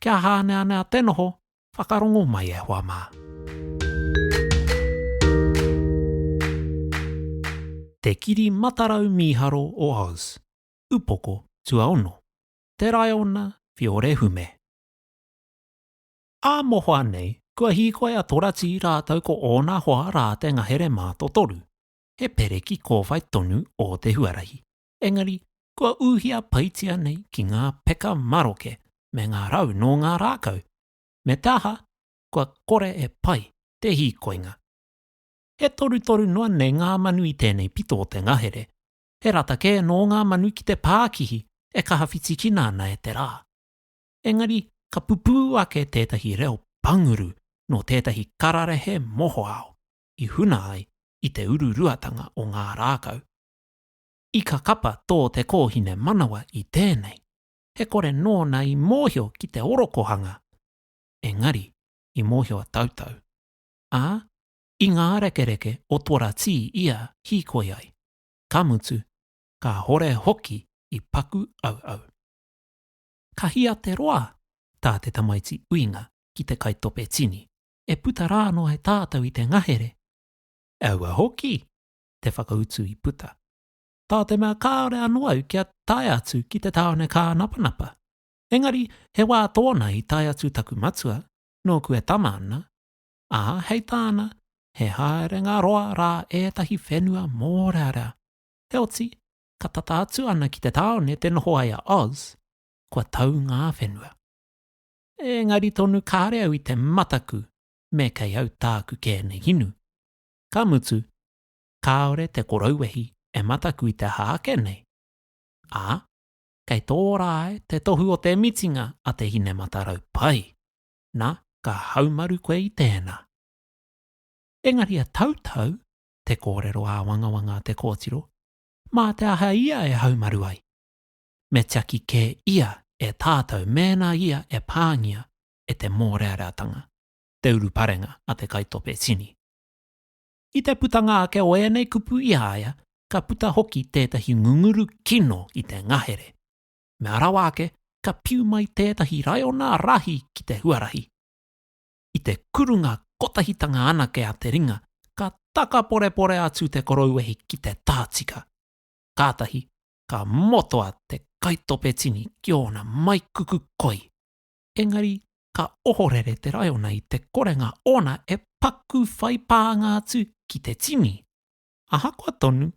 Kia hāneanea te noho, whakarongo mai e hoa mā. Te Kiri Matarau Mīharo o Oz, Upoko Tuaono, Te Raiona Fiorehume. Ā mohoa nei, kua hīkoi a Torati rātou ko ōna hoa rā te ngahere mātotoru, he pereki kōwhai tonu o te huarahi. engari kua ūhia paitia nei ki ngā peka maroke me ngā rau nō ngā rākau, me te aha, kua kore e pai te hīkoinga. He torutoru noa nei ngā manu i tēnei pito o te ngahere, he rata kē nō ngā manu ki te pākihi e kaha whitikina ana e te rā. Engari ka pupū ake tētahi reo panguru nō tētahi kararehe mohoao i huna ai i te ururuatanga o ngā rākau. I ka kapa tō te kōhine manawa i tēnei, he kore nōna i mōhio ki te orokohanga, engari i mōhio a Tautau, ā, i ngā rekereke o Tora Tī ia hīkoi ai, ka mutu, kāhore hoki i paku auau. Ka hia te roa tā te tamaiti uinga ki te kaitope tini, e puta rā noa e tātou i te ngahere, aua hoki te whakautu i puta. Tā te mea kāore anō au kia tae atu ki te tāone kānapanapa. Engari, he wā tōna i tae atu taku matua, nōku e tama ana, ā, hei tāna, he haerenga roa rā ētahi whenua mōrearea. Heoti, ka tata atu ana ki te tāone te noho ai a Oz, kua tau ngā whenua. Engari tonu kāore au i te mataku me kei au tāku kē nei inu. Ka mutu, kāore te korouwehi e mataku i te aha ake nei, ā, kei tō rā ai te tohu o te mitinga a te hine matarau pai, nā, ka haumaru koe i tēnā. Engari e tautau te kōrero āwangawanga a te kōtiro, mā te aha ia e haumaru ai? Me tiaki kē ia e tātou mēnā ia e pāngia e te mōreareatanga. te uruparenga a te kaitope tini. I te putanga ake o ēnei kupu i a ia, ka puta hoki tētahi ngunguru kino i te ngahere. Mea rawa ake, ka piu mai tētahi raiona rahi ki te huarahi. I te kurunga kotahitanga anake a te ringa, ka takaporepore atu te korouwehi ki te taha tika. Kātahi ka motoa te kaitope tini ki ōna maikuku koi. engari ka ohorere te raiona i te korenga ōna e paku whai pānga atu ki te tini. Ahakoa tonu,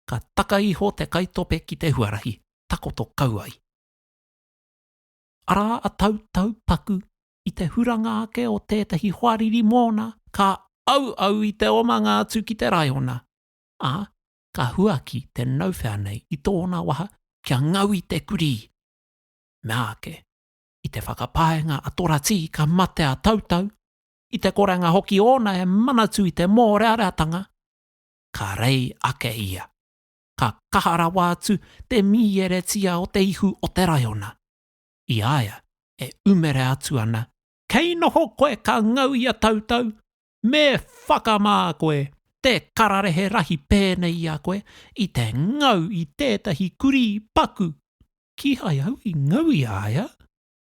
ka taka iho te kaitope ki te huarahi takoto kau ai. Arā a Tautau paku i te huranga ake o tētahi hoariri mōna ka auau i te omanga atu ki te raiona, ā, ka huaki te nauwhea nei i tōna waha kia ngau i te kurī. Meāke. I te whakapaenga a Toratī ka mate a Tautau, i te korenga hoki ōna e Manatū i te mōreareatanga, ka rei ake ia. Ka kaha rawa atu te mīeretia o te ihu o te raiona. I a ia e umere atu ana, Kei noho koe ka ngau i a Tautau, Me whakamā koe te kararehe rahi pēnei i a koe i te ngau i tētahi kurī paku. Kīhai au i ngau i a ia,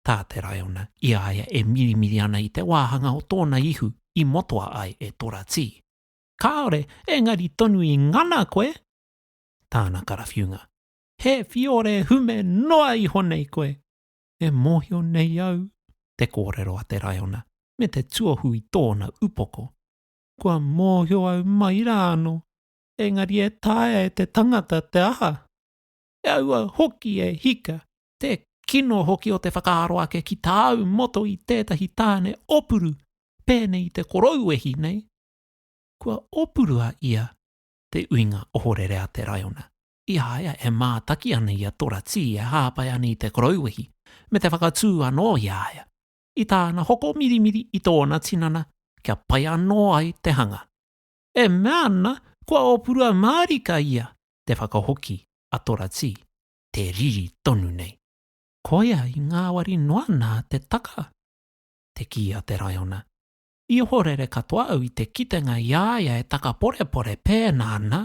tā te raiona, i a ia e mirimiri ana i te wāhanga o tōna ihu i motoa ai e Toratī. Kāore, engari tonu i ngana koe! Tāna karawhiunga. He whiore hume noa iho nei koe! e mōhio nei au te kōrero a te raiona me te tuohu i tōna upoko. Kua mōhio au mai rā anō, engari e taea e te tangata te aha? E aua hoki e hika, te kino hoki o te whakaaro ake ki tāu moto i tētahi tāne opuru pēnei i te korouwehi nei. Kua opuru a ia te uinga ohorere a te raiona, i a ia e mātaki ana i a Toratī e hāpai ana i te korouwehi, me te whakatū anō i a ia, i tāna hoko mirimiri i tōna tinana kia pai anō ai te hanga. E mea ana, kua ōpurua mārika ia, te whakahoki a Toratī, te riri tonu nei. Koia i ngāwari noa nā te taka, te kī a te raiona. I ohorere katoa au i te kitenga i a ia e takaporepore pēnā nā.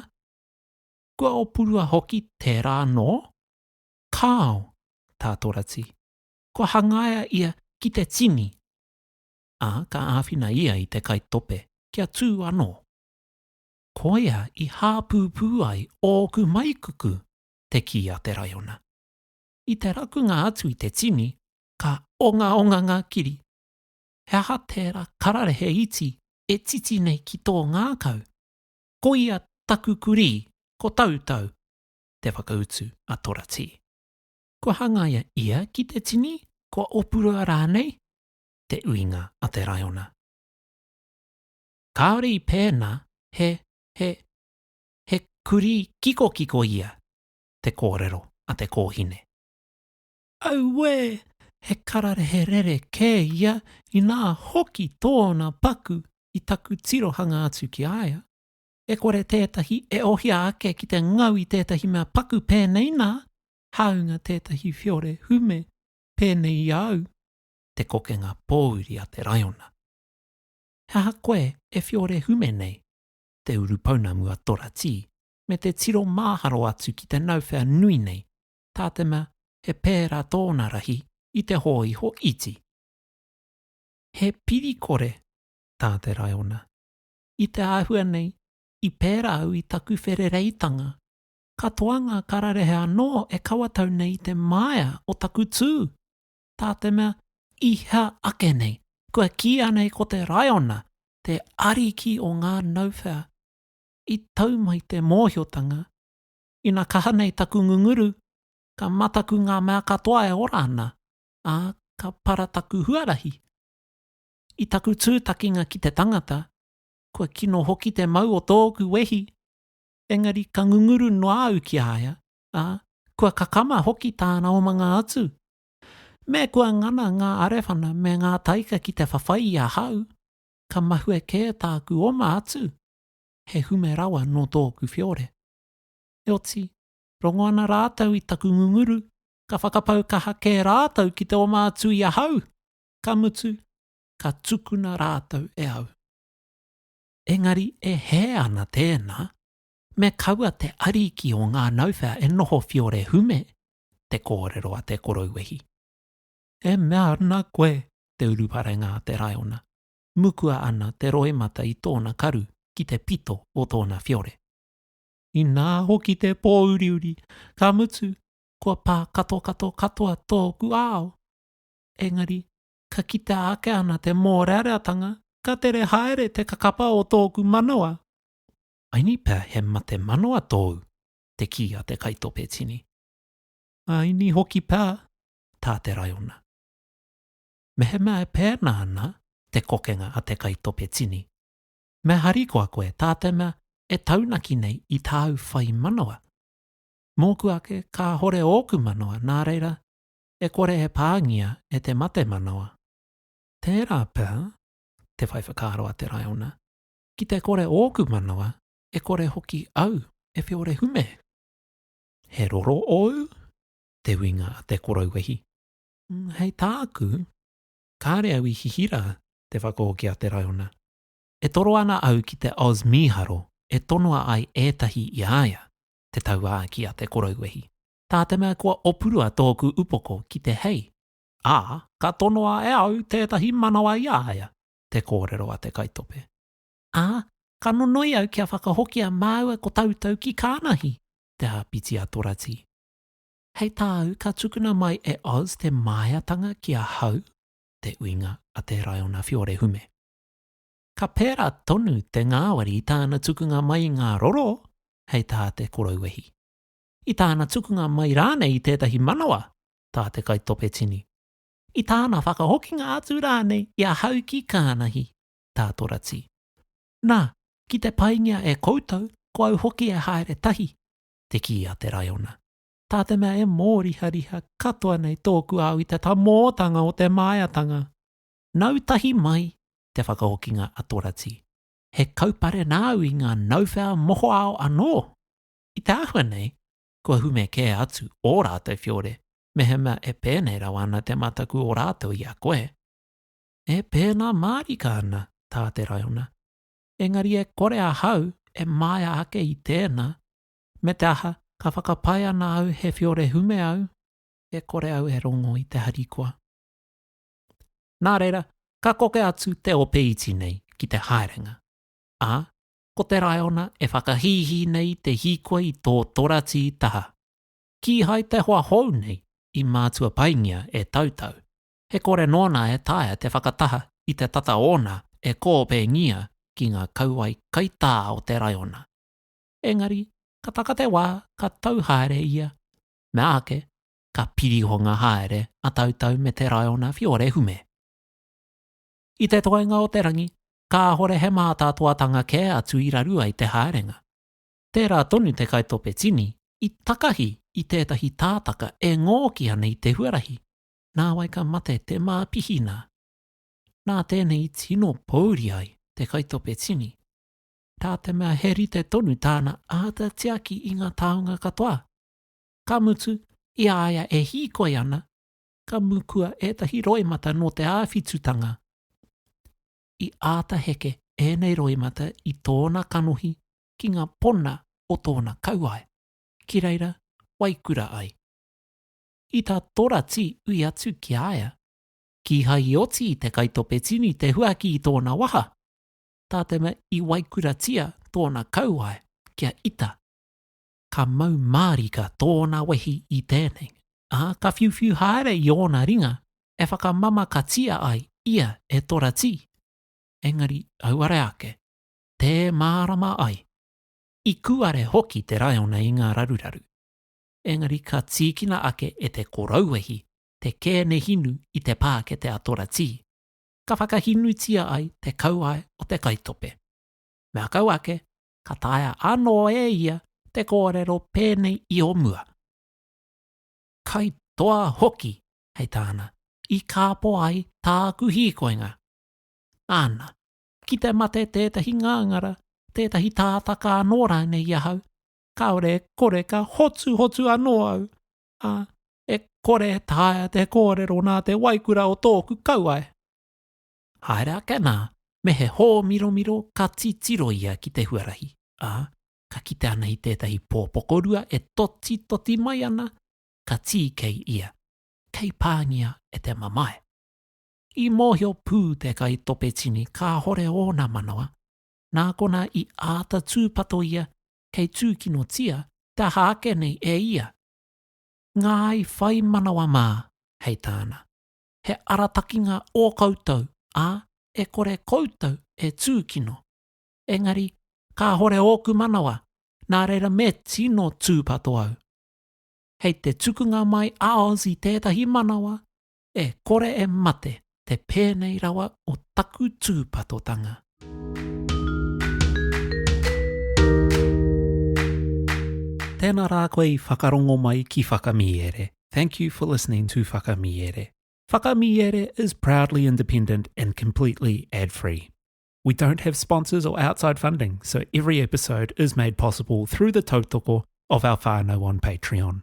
Kua opurua hoki tērā anō? Kāo, tā Torati. Kua hangaia ia ki te tini, ā, ka āwhina ia i te kaitope kia tū anō. Koia i hāpūpū ai ōku maikuku, te kī a te raiona. I te rakunga atu i te tini, ka ongaonga ngā kiri. He aha tērā kararehe iti e titi nei ki tō ngākau? Ko ia taku kurī, ko Tautau, te whakautu a Toratī. Kua hangaia ia ki te tini, kua opurua rānei? te uinga a te raiona. Kāore i pēnā, he, he, he kurī kikokiko ia, te kōrero a te kōhine. Auē! He kararehe rere kē ia, inā hoki tōna paku i taku tirohanga atu ki a ia. E kore tētahi e ohia ake ki te ngau i tētahi mea paku pēnei nā, hāunga tētahi whiore hume pēnei i a au, te kokenga pōuri a te raiona. He aha koe e whiore hume nei? Te urupounamu a Toratī, me te tiro māharo atu ki te nauwhea nui nei, tā te mea he pērā tōna rahi i te hōiho iti. He piri-kore tā te raiona. I te āhua nei, i pērā au i taku wherereitanga, katoa ngā kararehe anō e kawatau nei i te māia o taku tū, tā te mea i hea ake nei, kua kīia nei ko te raiona te ariki o ngā nauwhea. I tau mai te mōhiotanga, Ina kaha nei taku ngunguru, ka mataku ngā mea katoa e ora ana, ā, ka para taku huarahi. I taku tūtakinga ki te tangata, kua kino hoki te mau o tōku wehi, engari ka ngunguru noa au ki a ia, ā, kua kakama hoki tāna omanga atu. Me kua ngana ngā arewhana me ngā taika ki te whawhai i ahau, ka mahue kē tāku oma atu, he hume rawa nō tōku whiore. Heoti, rongo ana rātou i taku ngunguru, ka whakapau kaha kē rātou ki te oma atu i ahau, ka mutu, ka tukuna rātou e au. Engari e hē ana tēnā, me kaua te ariki o ngā nauwhea e noho whiore hume, te kōrero a te korouwehi. E mea ana koe, te uruparenga a te raiona, mukua ana te roimata i tōna karu ki te pito o tōna whiore. Inā hoki te pōuriuri, ka mutu, kua pā katokato katoa tōku ao. Engari, ka kitea ake ana te mōreareatanga, ka tere haere te kakapa o tōku manawa. Aini pea he mate manawa tōu? te kī a te kaitope tini. Aini hoki pea, tā te raiona. Mehemea e pēnā ana te kokenga a te kaitope tini, Me harikoa koe tā te mea e taunaki nei i tāu whai manawa. Mōku ake kāhore ōku manawa nā reira e kore e pāngia e te mate manawa. Tērā pea te whai whakaaro a te raiona, ki te kore ōku manawa e kore hoki au e whiore hume. He roro ōu? Te uinga a te korouehi. Hei tāku, kāre au i hihira te whakahoki a te raiona. E toro ana au ki te Oz mīharo e tonoa ai ētahi i a ia, te tauākī a te korouwehi, tā te mea kua opurua tōku upoko ki te hei, ā, ka tonoa e au tētahi manawa i a ia, te kōrero a te kaitope. Ā, ka nonoi au kia whakahokia māua ko tautau ki Kānahi, te āpiti a Toratī. Hei tāu ka tukuna mai e Oz te māiatanga ki ahau? te uinga a te Raiona Fiore Hume. Ka pērā tonu te ngāwari i tāna tukunga mai i ngā roro hei tā te korouwehi. I tāna tukunga mai rānei i tētahi manawa, tā te kaitope tini. I tāna whakahokinga atu rānei i ahau ki Kānahi, tā Torati. Nā, ki te paingia e koutou, ko au hoki e haere tahi, te kī a te Raiona. tā te mea e mōrihariha katoa nei tōku au i te tamōtanga o te māiatanga. Nau tahi mai te whakahokinga a Torati, he kaupare nāu i ngā nauwhea mohoao anō. I te āhua nei, kua hume kē atu ō rātou whiore, mehemea e pēnei rawa ana te mataku o rātou i a koe. E pēnā mārika ana tā te raiona, engari e kore ahau e māia ake i tēnā, Me te aha, ka whakapae ana au he whiore hume au, e kore au e rongo i te harikoa. Nā reira, ka koke atu te ope iti nei ki te haerenga, ā, ko te raiona e whakahīhī nei te hīkoi i tō toratī taha. Kīhai te hoa hou nei i mātua paingia e Tautau, he kore nōna e taea te whakataha i te tata ōna e kōpēngia ki ngā kauae kaitā o te raiona. engari ka taka te wā ka tau haere ia, mea ake, ka pirihonga haere a Tautau me te raiona whiore hume. I te toenga o te rangi, kāhore he mātātoatanga kē atu i raru ai te haerenga. Tērā tonu te kaitope tini i takahi i tētahi tātaka e ngōki ana i te huarahi, nāwai ka mate te māpihina. Nā tēnei i tino pōuri ai te kaitope tini. tā te mea he rite tonu tāna āta tiaki i ngā taonga katoa. Ka mutu, i a ia e hīkoi ana, ka mukua ētahi roimata nō te āwhitutanga. I āta heke ēnei roimata i tōna kanohi ki ngā pona o tōna kauae, ki reira wai kura ai. I tā Torati ui atu ki a ia, Kīhai i oti i te kaitope tini te huaki i tōna waha, tā te mea i waikuratia tōna kauae kia ita, ka mau mārika tōna wehi i tēnei, ā, ka whiuwhiu haere i ōna ringa e whakamamakatia ai ia e Toratī, engari auare ake, tē mārama ai. I kuare hoki te raiona i ngā raruraru, engari ka tīkina ake e te korauwehi te kēnehinu i te pākete a Toratī, ka whakahinutia ai te kauae o te kaitope. Mea kau ake, ka taea anō e ia te kōrero pēnei i o mua, Kai toa hoki, hei tāna, i kāpō ai tāku hīkoinga. Āna, ki te mate tētahi ngāngara, tētahi tātaka anō rānei i ahau, kāore e kore ka hotuhotu anō au, ā, e kore e taea te kōrero nā te waikura o tōku kauae. Haere ake nā, me he hōmiromiro ka titiro ia ki te huarahi, ā, ka kite ana i tētahi pō pokorua e totitoti mai ana, ka tīkei ia, kei pāngia e te mamae. I mōhio pū te kaitopetini kāhore ōna manawa, nā konā i āta tūpato ia kei tūkinotia te aha ake nei e ia. Ngāi whai manawa mā, hei tāna, he aratakinga ō koutou, ā, e kore koutou e tūkino. Engari, kāhore ōku manawa, nā reira me tino tūpato au. Hei te tukunga mai a Oz i tētahi manawa, E kore e mate te pēnei rawa o taku tūpatotanga. Tēnā rā koe i whakarongo mai ki Whakamīere. Thank you for listening to Whakamīere. Whakamīere is proudly independent and completely ad free. We don't have sponsors or outside funding, so every episode is made possible through the tautoko of our whānau on Patreon.